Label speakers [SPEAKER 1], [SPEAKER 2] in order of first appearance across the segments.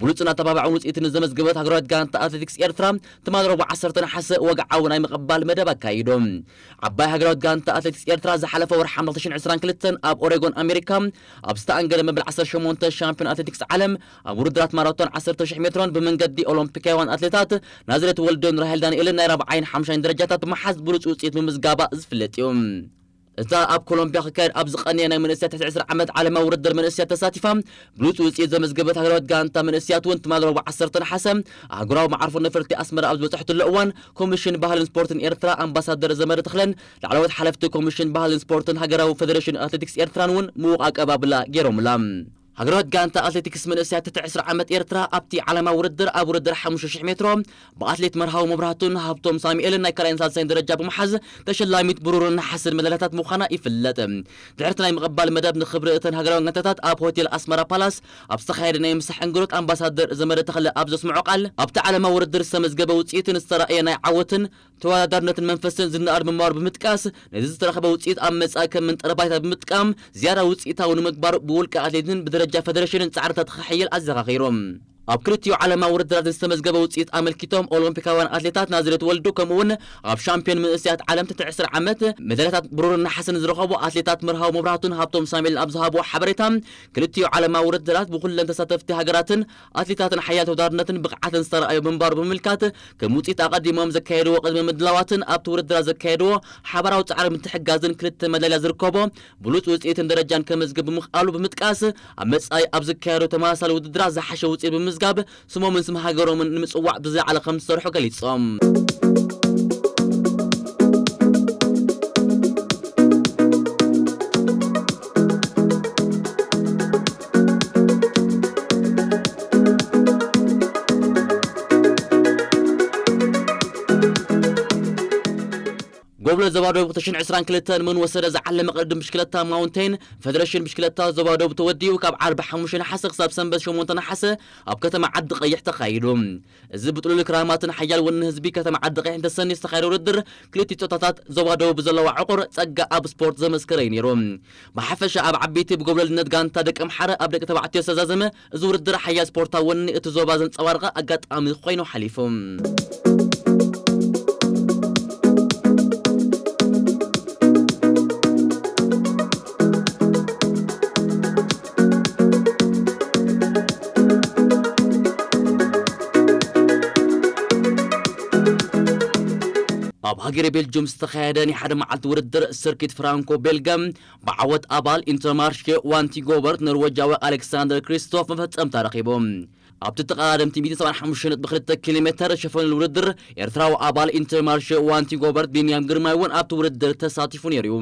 [SPEAKER 1] ብሉጽን ኣተባባዕን ውጽኢት ንዘመዝገበት ሃገራዊት ጋንታ ኣትሌቲክስ ኤርትራ ትማል ረቡዕ ዓሰርተ ነሓሰ ወግዓዊ ናይ ምቕባል መደብ ኣካይዱ። ዓባይ ሃገራዊት ጋንታ ኣትሌቲክስ ኤርትራ ዝሓለፈ ወርሒ ሓምለ ክልተ ሽሕን ዕስራን ክልተን ኣብ ኦሬጎን ኣሜሪካ ኣብ ዝተኣንገደ መበል ዓሰርተ ሸሞንተ ሻምፕዮን ኣትሌቲክስ ዓለም ኣብ ውድድራት ማራቶን ዓሰርተ ሽሕ ሜትሮን ብመንገዲ ኦሎምፒካውያን ኣትሌታት ናዝሬት ወልዱን ራሄል ዳንኤልን ናይ ራብዓይን ሓምሻይን ደረጃታት ብምሓዝ ብሉጽ ውጽኢት ምምዝጋባ ዝፍለጥ እዩ። እታ ኣብ ኮሎምብያ ክካየድ ኣብ ዝቐነየ ናይ መንእሰያት ትሕቲ ዕስራ ዓመት ዓለማዊ ውድድር መንእሰያት ተሳቲፋ ብሉጽ ውጽኢት ዘመዝገበት ሃገራዊት ጋንታ መንእሰያት እውን ትማሊ ረቡዕ ዓሰርተ ነሓሰ ኣህጉራዊ መዓርፎ ነፈርቲ ኣስመራ ኣብ ዝበጽሐትሉ እዋን ኮሚሽን ባህልን ስፖርትን ኤርትራ ኣምባሳደር ዘመደ ተኽለን ላዕለዎት ሓለፍቲ ኮሚሽን ባህልን ስፖርትን ሃገራዊ ፈደረሽን ኣትሌቲክስ ኤርትራን እውን ምዉቕ ኣቀባብላ ገይሮምላ። ሃገራዊት ጋንታ ኣትሌቲክስ መንእሰያት ትሕቲ ዕስራ ዓመት ኤርትራ ኣብቲ ዓለማዊ ውድድር ኣብ ውድድር ሓሙሽተ ሽሕ ሜትሮ ብኣትሌት መርሃዊ መብራህቱን ሃብቶም ሳሙኤልን ናይ ካልኣይን ሳልሳይን ደረጃ ብምሓዝ ተሸላሚት ብሩርን ነሓስን መዳልያታት ምዃና ይፍለጥ። ድሕሪ'ቲ ናይ ምቕባል መደብ ንኽብሪ እተን ሃገራውያን ጋንታታት ኣብ ሆቴል ኣስመራ ፓላስ ኣብ ዝተኻየደ ናይ ምሳሕ እንግዶት ኣምባሳደር ዘመደ ተኽለ ኣብ ዘስመዖ ቃል ኣብቲ ዓለማዊ ውድድር ዝተመዝገበ ውጽኢትን ዝተራእየ ናይ ዓወትን ተወዳዳርነትን መንፈስን ዝነኣድ ምንባሩ ብምጥቃስ፣ ነዚ ዝተረኽበ ውፅኢት ኣብ መፃኢ ከም መንጠሪ ባይታ ብምጥቃም ዝያዳ ውፅኢታዊ ንምግባር ብውልቀ ኣትሌትን ብደረጃ ፌደሬሽንን ፃዕርታት ክሕየል ኣዘኻኺሩ። ኣብ ክልቲኡ ዓለማዊ ውድድራት ንዝተመዝገበ ውፅኢት ኣመልኪቶም ኦሎምፒካውያን ኣትሌታት ናዝሬት ወልዱ ከምኡ እውን ኣብ ሻምፒዮን መንእሰያት ዓለም ትሕቲ ዕስራ ዓመት መዳልያታት ብሩርን ነሓስን ዝረኸቡ ኣትሌታት መርሃዊ መብራህቱን ሃብቶም ሳሙኤልን ኣብ ዝሃብዎ ሓበሬታ ክልቲኡ ዓለማዊ ውድድራት ብኩለን ተሳተፍቲ ሃገራትን ኣትሌታትን ሓያል ተወዳድርነትን ብቕዓትን ዝተራእዮ ምንባሩ ብምምልካት፣ ከም ውጽኢት ኣቐዲሞም ዘካየድዎ ቅድመ ምድላዋትን ኣብቲ ውድድራት ዘካየድዎ ሓባራዊ ጻዕሪ ምትሕግጋዝን ክልተ መዳልያ ዝርከቦ ብሉጽ ውጽኢትን ደረጃን ከመዝግብ ብምኽኣሉ ብምጥቃስ፣ ኣብ መጻኢ ኣብ ዝካየዱ ተመሳሳሊ ውድድራት ዝሓሸ ውጽኢት ብምምዝጋብ ስሞምን ስም ሃገሮምን ንምጽዋዕ ብዝለዓለ ከምዝሰርሑ ገሊጾም። ጎብለ ዞባ ደቡብ 2022 ንመን ወሰደ ዝዓለመ ቅድድም ብሽክለታ ማውንቴን ፌደሬሽን ብሽክለታ ዞባ ደቡብ ተወዲኡ ካብ ዓርቢ ሓሙሽተ ነሓሰ ክሳብ ሰንበት ሸሞንተ ነሓሰ ኣብ ከተማ ዓዲ ቀይሕ ተኻይዱ እዚ ብጥሉል ክራማትን ሓያል ወኒ ህዝቢ ከተማ ዓዲቐይሕ እንተሰንዩ ዝተኻየደ ውድድር ክልቲኡ ጾታታት ዞባ ደቡብ ብዘለዋ ዕቑር ጸጋ ኣብ ስፖርት ዘመስከረ'ዩ ነይሩ። ብሓፈሻ ኣብ ዓበይቲ ብጎብለልነት ጋንታ ደቀምሓረ ኣብ ደቂ ተባዕትዮ ዝተዛዘመ እዚ ውድድር ሓያል ስፖርታዊ ወኒ እቲ ዞባ ዘንጸባረቐ ኣጋጣሚ ኮይኑ ሓሊፉ። ኣብ ሃገረ ቤልጅዩም ዝተኻየደ ናይ ሓደ መዓልቲ ውድድር ስርኪት ፍራንኮ ቤልገ ብዓወት ኣባል ኢንተርማርሼ ዋንቲጎበርት ኖርወጃዊ ኣሌክሳንደር ክሪስቶፍ መፈጸምታ ረኺቡ ኣብቲ ተቐዳደምቲ ሚእቲ ሰብዓን ሓሙሽተን ነጥቢ ክልተ ኪሎ ሜተር ሸፈኑል ውድድር ኤርትራዊ ኣባል ኢንተርማርሸ ዋንቲ ጎበርት ቢንያም ግርማይ እውን ኣብቲ ውድድር ተሳቲፉ ነይሩ እዩ።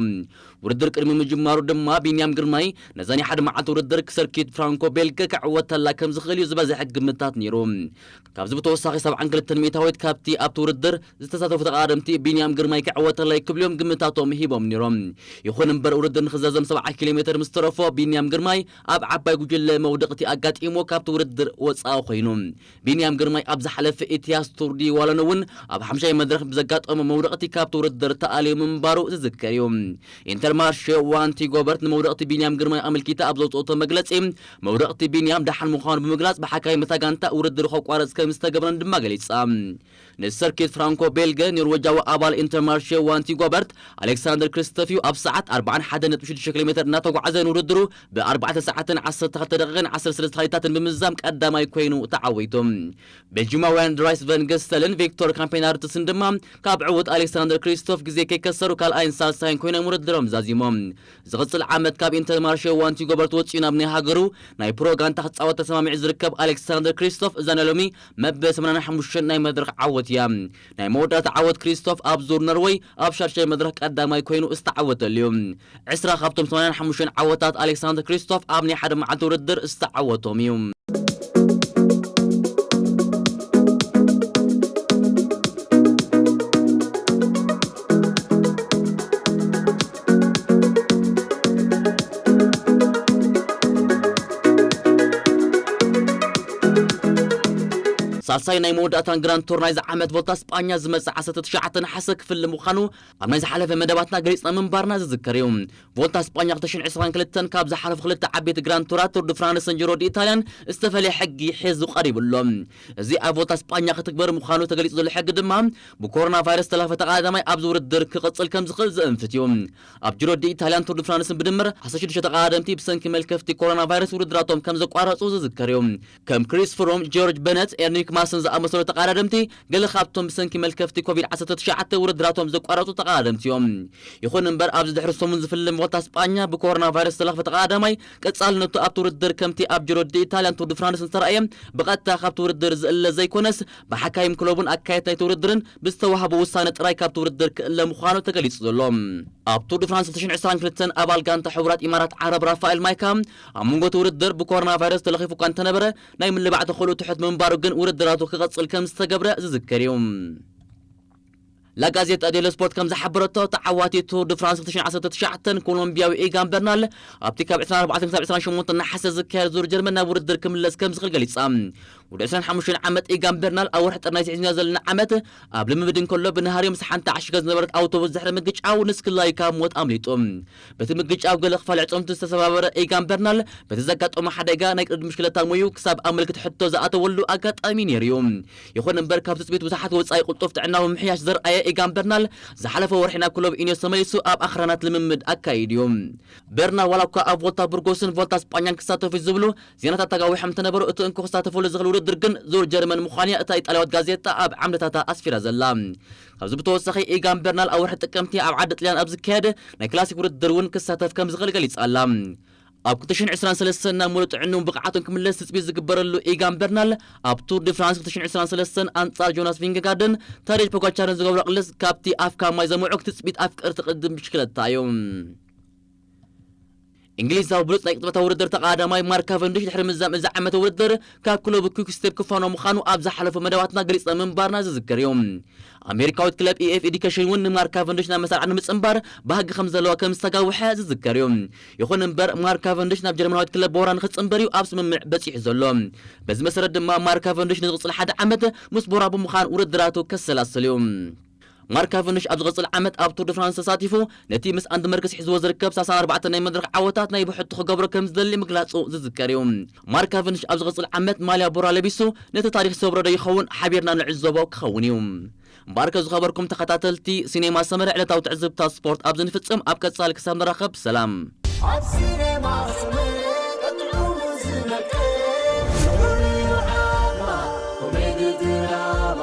[SPEAKER 1] ውድድር ቅድሚ ምጅማሩ ድማ ቢንያም ግርማይ ነዛ ናይ ሓደ መዓልቲ ውድድር ክሰርኪት ፍራንኮ ቤልገ ክዕወተላ ከም ዝኽእል እዩ ዝበዝሐ ግምታት ነይሩ። ካብዚ ብተወሳኺ ሰብዓን ክልተን ሚእታዊት ካብቲ ኣብቲ ውድድር ዝተሳተፉ ተቐዳደምቲ ቢንያም ግርማይ ክዕወተላ እዩ ክብሉ እዮም ግምታቶም ሂቦም ነይሮም። ይኹን እምበር ውድድር ንኽዛዘም ሰብዓ ኪሎ ሜተር ምስ ተረፎ ቢንያም ግርማይ ኣብ ዓባይ ጉጅለ መውደቕቲ ኣጋጢምዎ ካብቲ ውድድር ወጻኢ ኮይኑ። ቢንያም ግርማይ ኣብ ዝሓለፈ ኢትያስ ቱር ዲ ዋሎን'ውን ኣብ ሓምሻይ መድረኽ ብዘጋጠሞ መውደቕቲ ካብቲ ውድድር ተኣልዩ ምንባሩ ዝዝከር እዩ። ኢንተርማርሸ ዋንቲ ጎበርት ንመውደቕቲ ቢንያም ግርማይ ኣመልኪታ ኣብ ዘውጽኦቶ መግለጺ፣ መውደቕቲ ቢንያም ደሓን ምዃኑ ብምግላጽ ብሓካይም እታ ጋንታ ውድድሩ ከቋርጽ ከምዝተገብረን ድማ ገሊጻ። ንሰርኪት ፍራንኮ ቤልገ ኖርወጃዊ ኣባል ኢንተርማርሼ ዋንቲ ጎበርት ኣሌክሳንደር ክሪስተፍዩ ኣብ ሰዓት ኣርባዓን ሓደን ነጥቢ ሽዱሽተ ኪሎ ሜተር እናተጓዕዘ ንውድድሩ ብ ኣርባዕተ ሰዓትን ዓሰርተ ክልተ ደቒቕን ዓሰርተ ሰለስተ ካሊታትን ብምዝዛም ቀዳማይ ኮይኑ ተዓዊቱ። ቤልጂማውያን ድራይስ ቨን ገስተልን ቪክቶር ካምፔናርትስን ድማ ካብ ዕዉት ኣሌክሳንደር ክሪስቶፍ ግዜ ከይከሰሩ ካልኣይን ሳልሳይን ኮይኖም ውድድሮም ዛዚሞም። ዝቕጽል ዓመት ካብ ኢንተርማርሸ ዋንቲ ጎበርት ወጺኡ ናብ ናይ ሃገሩ ናይ ፕሮ ጋንታ ክጻወት ተሰማሚዑ ዝርከብ ኣሌክሳንደር ክሪስቶፍ እዛ ናይ ሎሚ መበል ሰማንያን ሓሙሽተን ናይ መድረኽ ዓወት እያ። ናይ መወዳእታ ዓወት ክሪስቶፍ ኣብ ዙር ኖርወይ ኣብ ሻድሻይ መድረኽ ቀዳማይ ኮይኑ ዝተዓወተሉ እዩ። ዕስራ ካብቶም ሰማንያን ሓሙሽተን ዓወታት ኣሌክሳንደር ክሪስቶፍ ኣብ ናይ ሓደ መዓልቲ ውድድር ዝተዓወቶም እዩ። ሳልሳይ ናይ መወዳእታን ግራንድ ቱር ናይዚ ዓመት ቮልታ ስጳኛ ዝመጽእ 19 ነሓሰ ክፍሊ ምዃኑ ኣብ ናይ ዝሓለፈ መደባትና ገሊጽና ምንባርና ዝዝከር እዩ ቮልታ ስጳኛ 2022 ካብ ዝሓለፉ ክልተ ዓበይቲ ግራንድ ቱራት ቱር ድ ፍራንስን ጅሮ ድ ኢታልያን ዝተፈለየ ሕጊ ሒዙ ቀሪቡ ኣሎ እዚ ኣብ ቮልታ ስጳኛ ክትግበር ምዃኑ ተገሊጹ ዘሎ ሕጊ ድማ ብኮሮና ቫይረስ ዝተላህፈ ተቐዳዳማይ ኣብዚ ውድድር ክቕፅል ከምዝኽእል ዘእንፍት እዩ። ኣብ ጂሮ ዲ ኢታልያን ቱር ዲ ፍራንስን ብድምር ዓሰርተ ሽዱሽተ ተቐዳደምቲ ብሰንኪ መልከፍቲ ኮሮና ቫይረስ ውድድራቶም ከምዘቋረፁ ዝዝከር እዩ። ከም ክሪስ ፍሩም፣ ጂዮርጅ በነት፣ ኤርኒክ ማስን ዝኣመሰሉ ተቐዳደምቲ ገለ ካብቶም ብሰንኪ መልከፍቲ ኮቪድ ዓሰርተ ትሽዓተ ውድድራቶም ዘቋረፁ ተቐዳደምቲ እዮም። ይኹን እምበር ኣብዚ ድሕሪ ሰሙን ዝፍልም ቮልታ ስጳኛ ብኮሮና ቫይረስ ዝተለኽፈ ተቐዳዳማይ ቀፃልነቱ ኣብቲ ውድድር ከምቲ ኣብ ጂሮ ዲ ኢታልያን ቱር ዲ ፍራንስን ዝተርኣየ ብቐጥታ ካብቲ ውድድር ዝእለ ዘይኮነስ ብሓካይም ክለቡን ኣካየድቲ ናይቲ ውድድርን ብዝተዋህቦ ውሳነ ጥራይ ካብቲ ውድድር ክእለ ምዃኑ ተገሊጹ ዘሎ ኣብ ቱር ድ ፍራንስ ሁለት ሽሕን ዕስራን ክልተን ኣባል ጋንታ ሕቡራት ኢማራት ዓረብ ራፋኤል ማይካ ኣብ መንጎ እቲ ውድድር ብኮሮናቫይረስ ተለኺፉ እኳ እንተነበረ ናይ ምልባዕ ተኽእልኡ ትሑት ብምንባሩ ግን ውድድራቱ ክቕጽል ከምዝተገብረ ዝዝከር እዩ። ላጋዜጣ ዴሎ ስፖርት ከም ዝሓበረቶ ተዓዋቲ ቱር ድ ፍራንስ 2019 ኮሎምቢያዊ ኢጋን በርናል ኣብቲ ካብ 24 ክሳብ 28 ነሓሰ ዝካየድ ዙር ጀርመን ናብ ውድድር ክምለስ ከም ዝኽእል ገሊጻ። ወዲ 25 ዓመት ኢጋን በርናል ኣብ ወርሒ ጥሪ ናይቲ ሒዝናዮ ዘለና ዓመት ኣብ ልምምድ እንከሎ ብነሃርዮ ምስ ሓንቲ ዓሺገ ዝነበረት ኣውቶቡስ ድሕሪ ምግጫው ንስክላይ ካብ ሞት ኣምሊጡ። በቲ ምግጫው ገለ ክፋል ኣዕጽምቱ ዝተሰባበረ ኢጋን በርናል፣ በቲ ዘጋጠሞ ሓደጋ ናይ ቅድድም ብሽክለታ ሞዩ ክሳብ ኣብ ምልክት ሕቶ ዝኣተወሉ ኣጋጣሚ ነይሩ'ዩ። ይኹን እምበር ካብ ትጽቢት ብዙሓት ወጻኢ ቅልጡፍ ጥዕናዊ ምምሕያሽ ዘርኣየ ኢጋን በርናል፣ ዝሓለፈ ወርሒ ናብ ክለብ ኢኔዮስ ተመሊሱ ኣብ ኣኽራናት ልምምድ ኣካይዱ'ዩ። በርናል ዋላ'ኳ ኣብ ቮልታ ቡርጎስን ቮልታ ስጳኛን ክሳተፍ'ዩ ዝብሉ ዜናታት ተጋዊሖም እንተነበሩ፣ እቲ እንኮ ክሳተፈሉ ዝኽእል ውድድር ግን ዙር ጀርመን ምዃኑ'ያ እታ ኢጣልያዊት ጋዜጣ ኣብ ዓምድታታ ኣስፊራ ዘላ። ካብዚ ብተወሳኺ ኢጋን በርናል ኣብ ወርሒ ጥቅምቲ ኣብ ዓዲ ጥልያን ኣብ ዝካየድ ናይ ክላሲክ ውድድር እውን ክሳተፍ ከምዝኽእል ገሊጻ ኣላ። ኣብ ክልተ ሽሕን ዕስራን ሰለስተን ናብ ምሉእ ጥዕንኡን ብቕዓቱን ክምለስ ትጽቢት ዝግበረሉ ኢጋን በርናል፣ ኣብ ቱር ዲ ፍራንስ ክልተ ሽሕን ዕስራን ሰለስተን ኣንጻር ጆናስ ቪንገጋርድን ታዴጅ ፖጋቻርን ዝገብሮ ቅልስ ካብቲ ኣፍካ ማይ ዘምዕክ ትጽቢት ኣፍቀርቲ ቅድድም ብሽክለታ እዩ። እንግሊዛዊ ብሉጽ ናይ ቅጽበታዊ ውድድር ተቐዳዳማይ ማርክ ካቨንዲሽ ድሕሪ ምዝዛም እዚ ዓመተ ውድድር ካብ ክለቡ ኲክ ስቴፕ ክፋኖ ምዃኑ ኣብ ዝሓለፉ መደባትና ገሊጽና ምንባርና ዝዝከር እዩ። ኣሜሪካዊት ክለብ EF Education እውን ንማርክ ካቨንዲሽ ናብ መሳርዓ ንምጽንባር ባህጊ ከም ዘለዋ ከም ዝተጋውሐ ዝዝከር እዩ። ይኹን እምበር ማርክ ካቨንዲሽ ናብ ጀርመናዊት ክለብ ቦራ ንኽጽንበር እዩ ኣብ ስምምዕ በጺሑ ዘሎ። በዚ መሰረት ድማ ማርክ ካቨንዲሽ ንዝቕጽል ሓደ ዓመት ምስ ቦራ ብምዃን ውድድራቱ ከሰላስል እዩ። ማርክ ካቨንድሽ ኣብ ዝቕጽል ዓመት ኣብ ቱር ደ ፍራንስ ተሳቲፉ ነቲ ምስ ኣንዲ መርክስ ሒዝዎ ዝርከብ ሳልሳን ኣርባዕተን ናይ መድረኽ ዓወታት ናይ ብሕቱ ክገብሮ ከም ዝደሊ ምግላጹ ዝዝከር እዩ። ማርክ ካቨንድሽ ኣብ ዝቕጽል ዓመት ማልያ ቦራ ለቢሱ ነቲ ታሪኽ ይሰብሮ ዶ ይኸውን ሓቢርና ንዕዘቦ ክኸውን እዩ። እምበኣርከ ዝኸበርኩም ተኸታተልቲ ሲኔማ ሰመረ ዕለታዊ ትዕዝብትታት ስፖርት ኣብዚ ንፍጽም ኣብ ቀጻሊ ክሳብ ንራኸብ ሰላም። ኣብ ሲነማ
[SPEAKER 2] ሰመረ ቀጢዑ ዝነቅል ስሩዕ እዩ ዓቕማ ኮሜዲ ድራማ